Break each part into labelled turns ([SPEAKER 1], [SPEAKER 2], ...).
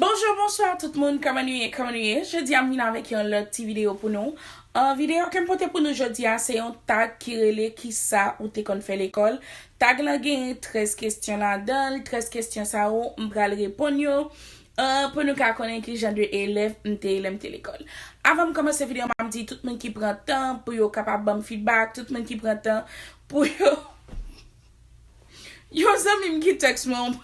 [SPEAKER 1] Bonjour bonsoir tout moun kòman nou ye kòman nou ye jodia m vin avèk yon lòt ti video pou nou an video kem pote pou nou jodia se yon tag ki rele kisa ou te konn fè lekòl tag lan genyen 13 kesyon ladanl 13 kesyon sa yo m pral reponn yo an pou nou ka konnen ki jan de elèv m te ye lèm te lekòl avan m kòmanse video map di tout moun ki pran tan pou yo kapab banm fidbak tout moun ki pran tan pou yo. Yon zanmim ki text mwen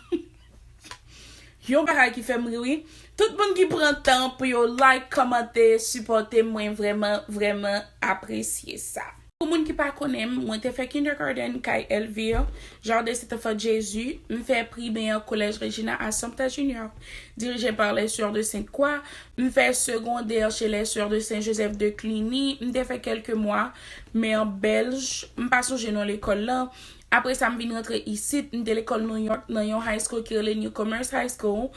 [SPEAKER 1] yon bagay ki fèm ri wi tout moun ki pran tan pou yo like kòmante sipòtem mwen vrèman vrèman apresye sa. Pou moun ki pa konnenm mwen te fè kindergarten kay Elvire Jardin Saint Enfant Jésus m fè primè collège Regina Assumpta Junior dirigé par les Soeurs de Sainte Croix m fè secondaire chez les Soeurs de Saint Joseph de Cluny m te fè kèlke mwa Men an Bèlj, m pa sonje non lekòl lan, apre sa m vin rantre isit, m te lekòl Nouyòk nan yon high school ki rele New Commerce High School,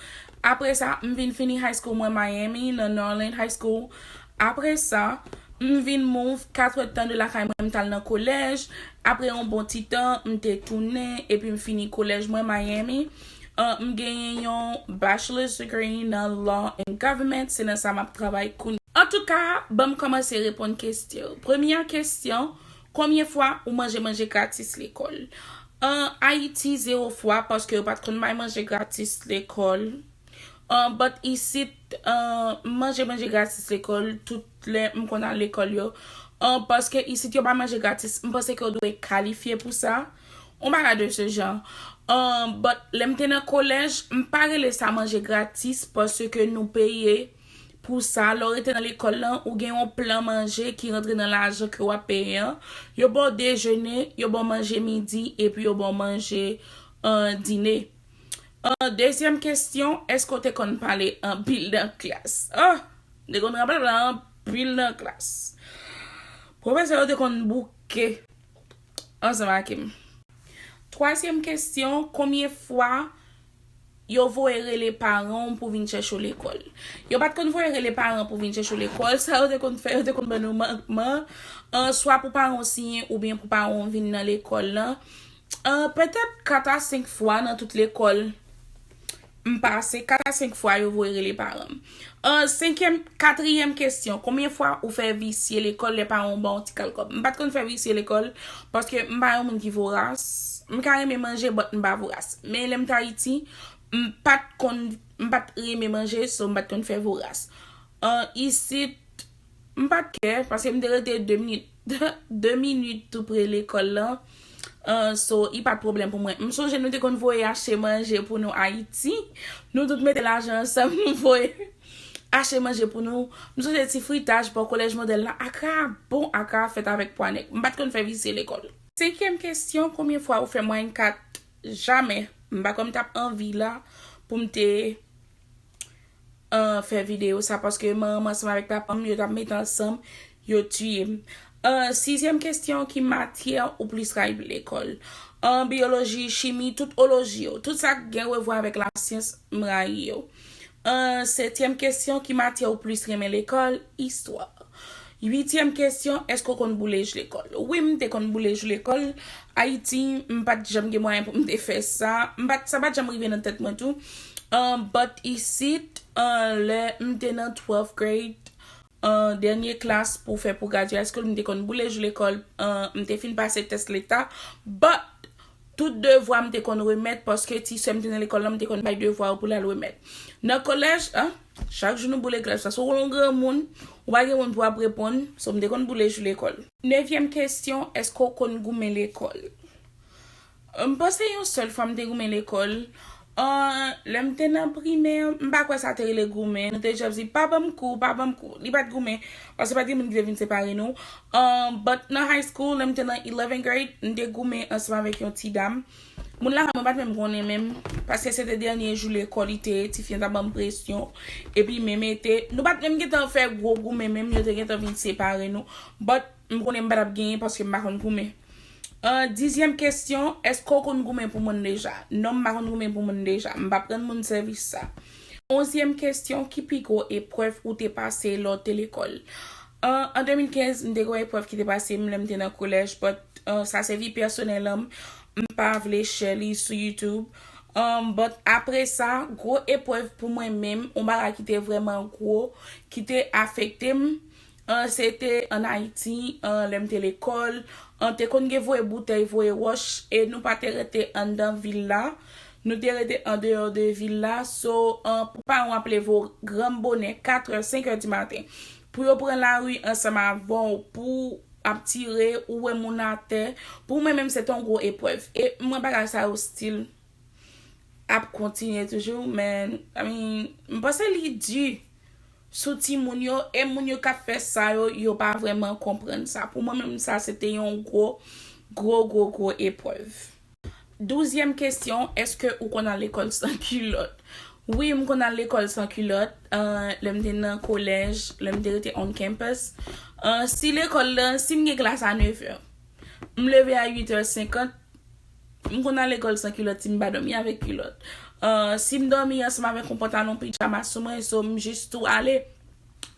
[SPEAKER 1] apre sa, m vin fini high school mwen Miami nan Norland High School, apre sa, m vin move katwèt tan de lakay mwen m t al nan kolèj, apre yon bon ti tan, m te tounen epi m fini kolèj mwen Miami. M genyen yon Bachelor's degree nan Law and Government, se nan sa map travay kounye. Antouka, banm kòmanse reponn kestyon yo. Premyè kestyon, konbyen fwa ou manje manje gratis lekòl? An Ayiti, zewo fwa, paske yo pat konn bay manje gratis lekòl. But isit, m manje manje gratis lekòl tout lè m konn al lekòl yo. Paske isit yo bay manje gratis, m panse ke ou dwe kalifye pou sa. On bagay de ce genre. Ahh but lèm te nan kolèj m pa rele sa manje gratis paske nou peye pou sa lè w rete nan lekòl lan ou gen yon plan manje ki rantre nan lajan ke wap peye an yo ba w dejene yo ba w manje midi epi yo ba w manje dine ahh dezyèm kesyon èske w te konn pale anpil nan klas ahh m te konn rablabla anpil nan klas pwofesè yo te konn bouke. ansanm ake m. Twazyèm kesyon, Konbyen fwa yo voye rele paran w pou vin chèche w lekòl? Yo pa t konn voye rele paran w pou vin chèche w lekòl. Sa yo te konn fè, yo te konn ban nou mankman, swa pou paran w siyen oubyen pou paran w vin nan lekòl lan. Petèt kat a senk fwa nan tout lekòl M pase 4 a 5 fwa yo voye rele paran m. Ahh senkyèm katriyèm kesyon konbyen fwa ou fè visye lekòl lè paran w ba w ti kal kòb? M pat konn fè visye lekòl paske m pa yon moun ki voras m ka renmen manje but m pa voras men lè m t ayiti m pat konn m pat renmen manje so m pat konn fè voras ahh isit M pa t kè, paske m te rete 2 minit, 2 minit tou pre lekòl lan. So, i pa t pwoblèm pou mwen. M sonje nou te konn voye achte manje pou nou Ayiti. Nou tout mete lajan ansanm, nou voye achte manje pou nou. M sonje ti fritaj bò Kolèj Modèl la. Akra a bon, akra a fèt avèk pwa nèg. M pa t konn fè visye lekòl. Senkyèm kesyon, konbyen fwa ou fè mwayèn 4? Jamè. M pa kwè m t ap anvi la pou m te. an fè video sa paske manmanm ansanm avèk papam yo tap met ansanm yo tiyem an sizyèm kestyon ki matyè ou plis rayi pou lekòl an biyoloji chimi tout oloji yo tout sak gen revwa avèk lasyans m rayi yo an setyèm kestyon ki matyè ou plis renmen lekòl istwa Uityèm kesyon, Èske w konn boule jou lekòl? Wi, m te konn boule jou lekòl. Ayiti, m pa t janm gen mwayen pou m te fè sa. M pa t, sa pa t janm rive nan tèt mwen tou. But isit, lè m te nan twèlf grade, dènye klas pou fè pou gradyasyon, m te konn boule jou lekòl. M te fin pase tès leta. But! Tout devwa m te konn remèt paske ti sè m te nan lekòl la m te konn bay devwa yo pou l al remèt. Nan kolèj, an, chak jou nou boule klas paske w yon granmoun, ou pa gen moun pou w ap reponn, so m te konn boule jou lekòl. Nevyèm kesyon, èske w konn goumen lekòl? M panse yon sèl fwa m te goumen lekòl, An, lè m te nan Primè, m pa kwè sa te rele goumen. Nou te just di, pa ban m kou, pa ban m kou. Li pa t goumen. Paske pa t gen moun ki te vin separe nou. An, but nan high school, lè m te nan eleven grade, m te goumen ansanm avèk yon ti dam. Moun lakay mwen pa t menm konnen menm. Paske se te dènye jou lekòl li te ye, ti fi an t ap ban m presyon. Epi men mete, nou pa t menm gen tan fè gwo goumen menm, yo te gen tan vin separe nou. But, m konnen m pa t ap genyen paske m pa konn goumen. An dizyèm kesyon, èske w konn goumen pou moun deja? Non, m pa konn goumen pou moun deja. M pap rann moun sèvis sa. Onzyèm kesyon, ki pi gwo eprèv ou te pase lè w te lekòl? An 2015, m te gen yon eprèv ki te pase m lè m te nan kolèj but sa se vi pèsonèl an m, m pa vle share li sou YouTube. But apre sa, gwo eprèv pou mwen menm, yon bagay ki te vrèman gwo, ki te afekte m, An se te an Ayiti, an lè m te lekòl, an te konn gen voye boutèy, voye wòch, e nou pa te rete anndan vil la, nou te rete andeyò de vil la, so an pou paran w ap leve w granm bonè, katrè, senkè di maten, pou yo pran lari ansanm avè w, pou w ap tire, ou wè moun atè, pou mwen menm se te yon gwo eprèv, e m wè bagay sa yo stil ap kontinye toujou, men, I mean, m panse li di. sou timoun yo e moun yo kap fè sa yo yo pa vrèman konprann sa pou mwen menm sa se te yon gwo gwo gwo gwo eprèv. Douzyèm kesyon èske ou konn al lekòl san kilòt wi m konn al lekòl san kilòt lè m te nan kolèj lè m te rete on campus si lekòl lan si m gen klas a nevè m leve a uitè senkant M konn al lekòl san kilòt si m pa dòmi avèk kilòt. Si m dòmi ansanm avèk yon pantalon pijama sou mwen, so m jis tou ale,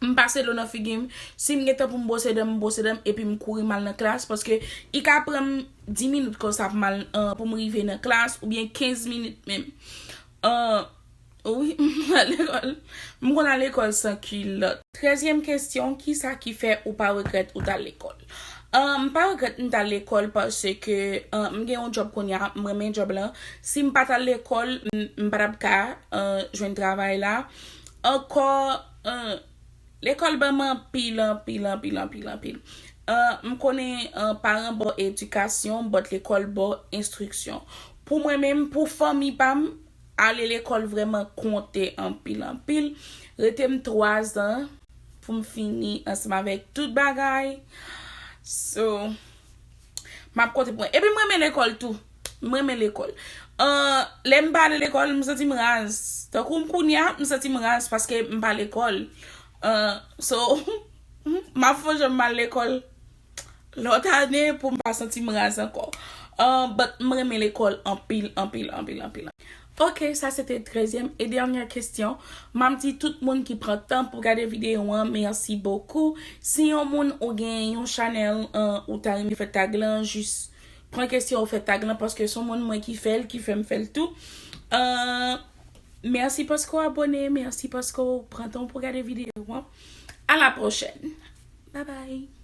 [SPEAKER 1] m pase dlo nan figi m, si m gen tan pou m bwose dan m, m bwose dan m epi m kouri m al nan klas paske i ka pran m 10 minit konsa pou m al pou m rive nan klas oubyen 15 minit menm. Wi, m konn al lekòl. M konn al lekòl san kilòt. Trèzyèm kesyon, Kisa ki fè ou pa regrèt ou t al lekòl? M pa regrèt m t al lekòl paske m gen yon djòb kounye a, m renmen djòb lan. Si m pa t al lekòl, m pa t ap ka jwenn travay la. Ankò, lekòl ban m anpil, anpil, anpil, anpil, anpil. M konnen paran bo edikasyon, bòt lekòl bo enstriksyon. Pou mwen menm, pou fanmi pa m, Ale lekòl vrèman konte anpil anpil. Rete m 3 zan pou m fini ansanm avèk tout bagay. So, m ap konte pou mwen. Epi m renmen lekòl tou. M renmen lekòl. Lè m pa ale lekòl, m santi m raz. Tankou m kounye a, m santi m raz paske m pa lekòl. So, m ap fon jan m al lekòl. Lòt ane poum pa santim raz ankò but m renmen lekòl anpil anpil anpil anpil. Ok sa se te trèzyèm e dènyè kestyon map di tout moun ki pran tan pou gade video an merci beaucoup si yon moun ou gen yon chanèl ou ta renmen fè tag lan jis pran kestyon ou fè tag lan paske son moun mwen ki fèl ki fèm fèl tou merci paske ou abone merci paske ou pran tan pou gade video an a la prochèn bye bye.